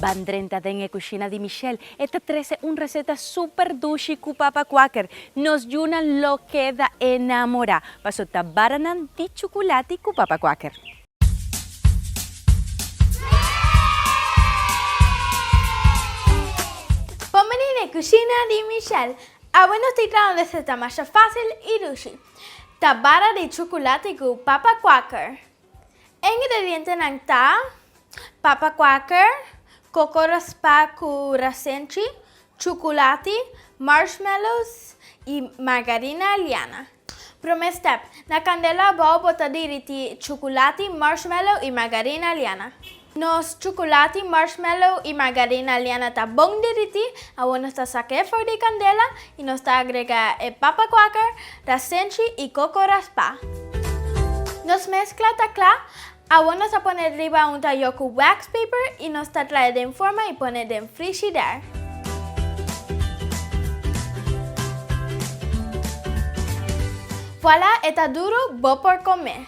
Ban drenta den e kushina di Michelle, e ta trese un reseta super dushi ku papa kuaker. Nos yunan lo keda enamorá paso ta baranan di chukulati ku papa kuaker. Bon bini n'e kushina di Michelle! Awe nos tin traha un reseta masha fásil i dushi. Ta bara di chocolate cu papa quaker. E ingredientenan ta, papa quaker, coco raspa cu rasenchi, chocolate, marshmallows y margarina liana. Prome step, Na candela abao bota diriti chocolate, marshmallow y margarina liana. Nos chukulati, marshmallow i margarina liana ta bon derití. Awor nos ta saka e for di kandela i nos ta agrega e papa kwaker, rasenchi i koko raspá. Nos meskla ta kla. Awor nos ta pone riba un tayó ku wax paper i nos ta trae den forma i pone den frishider. Vuala e ta duru, bo por kome.